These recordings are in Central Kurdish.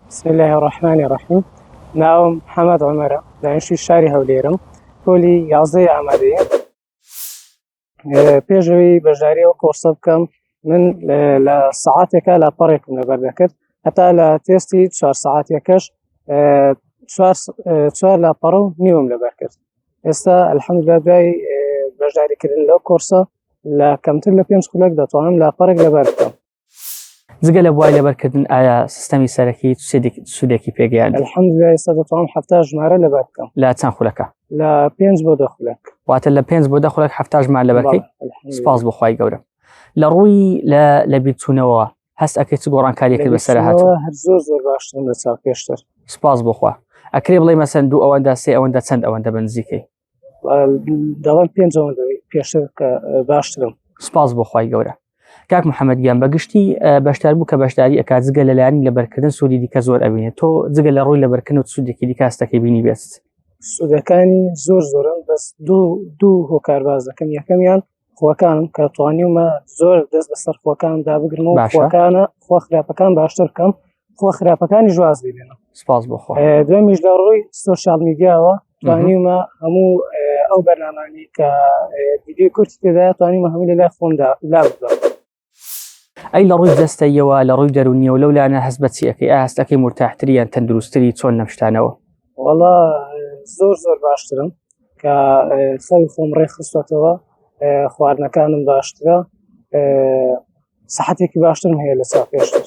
بسم الله الرحمن الرحیم ناوم حەمەد عمەرە دانیشتوی شاری هەولێرم پۆلی یازدەی ئامادەیە پێشەوەی بەشداری ئەو کۆرسە بکەم من لە سعاتێکە لە پەڕێکم لەبەر دەکرد هەتا لە تێستی چوار سعاتەکەش چوار لە پەڕە و نیوم لەبەر کرد ئێستا ئەلحەمدلا دوای بەشداریکردن لەو کۆرسە لە کەمتر لە پێنج خولەک دەتوانم لە پەرێک لەبەر بکەم جگە لە بوای لەبەرکردن ئایا سیستەمی سەرەکی سوودێکی پێگەیان هەفتا ژمارە لەبەر بکەم لا چەند خولەکە لە پێنج بۆ دەخولک واتە لە پێنج بۆ دەخولک هەفتا ژمار لەبەرکەی سپاس بخوای گەورە لە ڕووی لە لە بیرچوونەوە هەست ئەکەی چ گۆڕانکاری کرد بەسەر هات زۆر زۆر باشتر لە چاو پێشتر سپاس بخوا ئەکرێ بڵێ مەسەن دوو ئەوەندا سێ ئەوەندە چەند ئەوەندە بنزیکەی داوای پێنج پێشتر کە باشترم سپاس بۆ خی گەورە کاک محەممەد گیان بەگشتی بەشدار بوو کە بەشداری ئەکات جگە لەلایانی لەبەرکردن سوودی دیکە زۆر ئەبینێت تۆ جگە لە ڕووی لەبەرکردن و سوودێکی دیکاستەکەی بینی بێت سوودەکانی زۆر زۆرن بەس دوو دوو هۆکار باز دەکەم یەکەمیان خۆکانم کە توانیومە زۆر دەست بەسەر خۆکان دابگرم و خۆکانە خۆ خراپەکان باشتر بکەم خۆ خراپەکانی جواز ببێنم سپاس بۆ دوێمیش لە ڕووی سوۆشال میدیاوە توانیومە هەموو ئەو بەرنامانی کە دیدی کورتی تێدا توانیمە هەموو لە لای خۆمدا لا بدەم ئەی لە ڕووی جەستەیەوە لە ڕووی دەرونیەوە لەو لایەنە هەست بە چیەکەی ئاستەکەی مرتاحتری یان تەندروستری چۆن لەم شتانەوە وڵا زۆر زۆر باشترم کە خەوی خۆم ڕێخستەتەوە خواردنەکانم باشترە سەحەتێکی باشترم هەیە لە چا پێشتر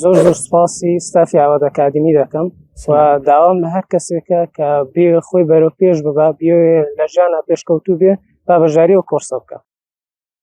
زۆر زۆر سپاسی ستافی ئاوات ئەکادمی دەکەم و داوام لە هەر کەسێکە کە بێ خۆی بەرەو پێش ببا بێ لە ژیانە پێشکەوتوو بێ با بەژاری و کۆرسە بکە